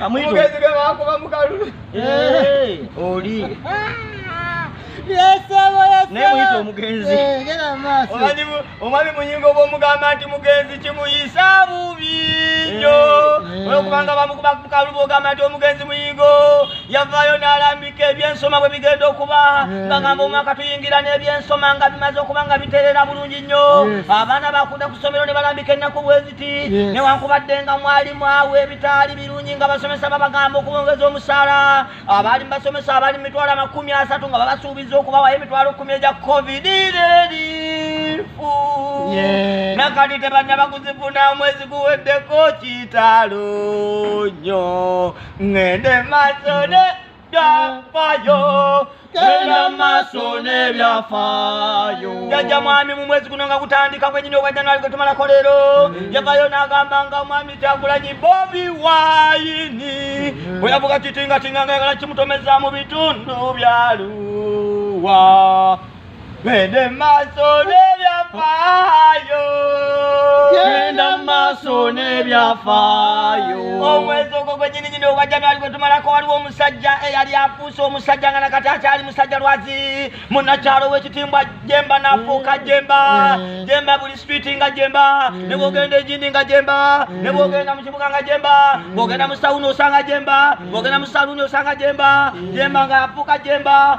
amugezi ge bakuba mukalulu oli nemuyita omugenzi omwami muyinga oba omugamba nti mugenzi kimuyisa bubi nyo olwokubanga bamukuba mukalulu ogamba nti omugenzi muyingo yavaayo n'alambika ebyensoma bwe bigenda okuba ngagamba omwaka tuyingira n'ebyensoma nga bimaze okuba nga biterera bulungi nnyo abaana bakunda ku ssomero ne balambika ennaku bwezi newankubadde nga mwali mwawa ebitaali birungi nga basomesa babagamba okwongeza omusaala abaali mubasomesa abali mu mitwalo amakumi asatu nga babasuubiza okubawayo emitwalo kumi egya covid erifu nakati tebanna bakuzifuna omwezi guweddeko kitalo nyo ngende masone byafaayo genda maaso n'ebyafaayo jajja mwami mu mwezi guno nga gutandika kwenyini obwa januari gwe tumalako leero mm. yavayo n'agamba nga mwami kyagulanyi bobi wayini mm. bwe yavuga kitingatinga nga yagala kimutomeza mu bitundu byaluwa Twende maaso n'ebyafaayo. Genda mu maaso n'ebyafaayo. Omwezi ogwo gwennyini nyini ogwa January gwe tumalako waliwo omusajja eyali afuuse omusajja nga nakati akyali musajja lwazi munnakyalo w'ekitimbwa Jemba n'afuuka Jemba. Mm. Jemba buli street nga Jemba. Mm. Ne bw'ogenda egindi nga Jemba. Mm. Ne bw'ogenda mu kibuga nga Jemba. Bw'ogenda mu sawuni osanga Jemba. Bw'ogenda mu saluuni osanga Jemba. Jemba nga afuuka Jemba.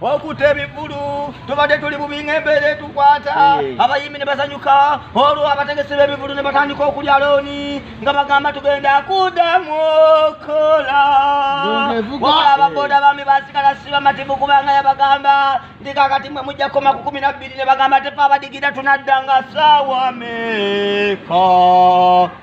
okuta ebivulu tubadde tuli bubi ng'embeera etukwata eh. abayimbi ne basanyuka olwo abategesi b'ebivulu ne batandika okulya looni nga bagamba tugenda kuddamu okola wala ababoda bami basigala si bamativu kubanga yabagamba ndi kakati mwe mujja kukoma ku kumi na bbiri ne bagamba tefe abadigira tunadda nga saawa meeka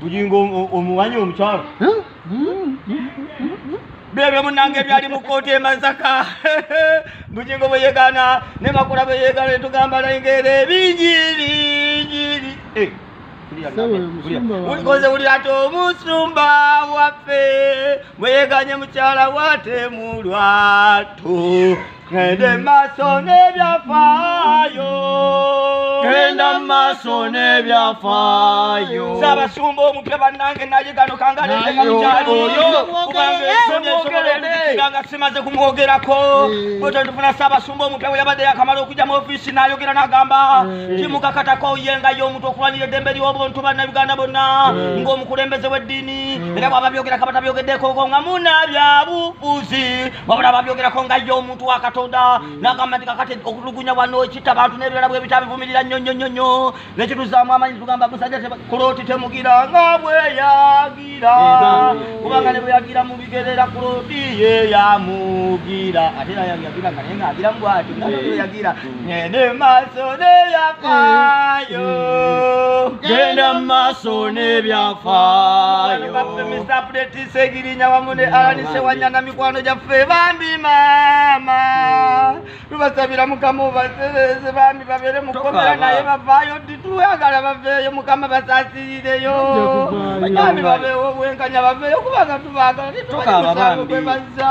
bujingo omuwanyi omukyalo byebyo munange byali mu kkooti emasaka bujingo bwe yegana ne makula bwe yegana ne tugamba nayingeera ebingi bingiri eh, ulikoze uli ati omusumba waffe bwe yeganye mukyala watemulwatu Genda maaso n'ebyafaayo. Genda maaso n'ebyafaayo. Ssaabasumba omupya bannange naye gano kangaleeteka mukyalo oyo kubanga ensonyi esobola okuzikira nga simaze kumwogerako bwe eh. twetufuna ssaabasumba omupya bwe yabadde yakamala okujja mu ofiisi n'ayogera n'agamba eh. kimukakatako ye nga ye omuntu okulwanira eddembe ly'obuntu bannayuganda bonna eh. ng'omukulembeze w'eddiini era bwaba byogerako abatabyogeddeekoko nga munaabyabufuzi wabula babyogerako nga ye omuntu wa katonda mm. nagamba nti kakati okutulugunya wano kitta bantu n'ebirala bwe bitabivumirira nnyo nnyo nnyo nnyo nekituzaamu amanyi tugamba musajja kuloti temugira nga bweyagira kubanga ne bweyagira mu bigerera kuloti ye yamugira ate nayagira nga naye ngaagira mu bwati nga bweyagira ngende maaso n'ebyafaayo genda mu maaso n'ebyafaayo baffe mr apudeti segirinya wamu ne alanise wanyana mikwano gyaffe bambi maama tubasabira mukama obasereze bambi babeere mukomera naye bavaayo ddi twagala baveeyo mukama basasirireyo bambi babeewo obwenkanya baveeyo kubanga tubaagala titubaemusango gwe bazza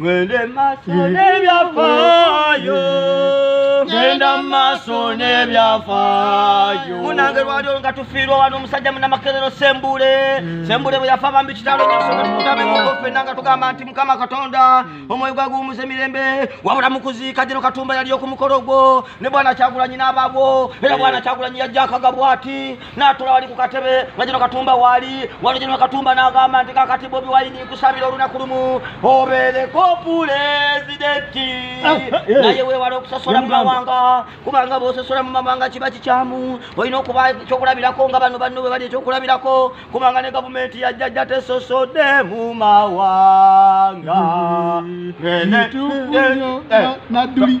Ngende maso n'ebyafaayo genda mu maaso n'ebyafaayo munange lwali olwo nga tufiirwa wano omusajja munamakerero sembule hmm. sembule bwe yafa bambi kitalo nyosogatutabemuko ffenna nga tugamba nti mukama katonda hmm. omwoyo gwaguwumuza emirembe wabula mukuziika gino katumba yali okumukolo gwo ne bwana kyagulanyi n'ababwo era bwana kyagulanyi yajja akagabwa ati natula wali ku katebe nga gino katumba waali wano gino katumba n'agamba nti kakati bobi wayini kusabira olunaku lumu obeereko pulezidenti ah, eh, eh. naye weewala okusasola mu mawanga kubanga bwosasola mu mawanga kiba kikyamu olina okuba ekyokulabirako nga bano banno bwe bali ekyokulabirako kubanga ne gavumenti yajjajja tesosodde mu mawanga mm-hmm. eh,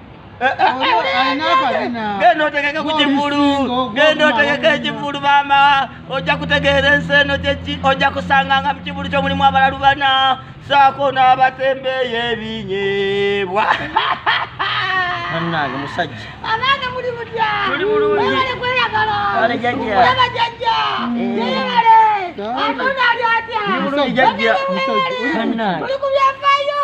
genda otegeke ku kivulu genda otegeke ekivulu maama ojja kutegeera ensi eno kyeki ojja kusanga nga mu kivulu kyo mulimu abalalu bana saako n'abatembeeyo ebinyebwa bannange musajja abange muli mutya muli bulungi kweyagala kale jajja olaba jajja yeyebale atonda ali atya muli ku byafaayo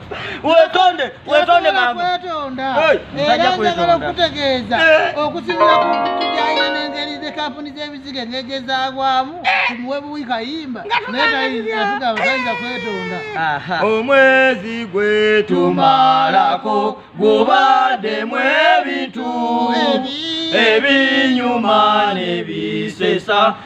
wetonde wetonde mama wetonda era njagala okutegeeza eh. okusinzira ku tujaire n'engeri ze kampuni z'ebiziga ngegyezaagwamu tumuwe eh. buwi kayimba naye tayinzatuga tayinza kwetonda omwezi gwetumalako gubaddemu ebintu ebinyuma nebisesa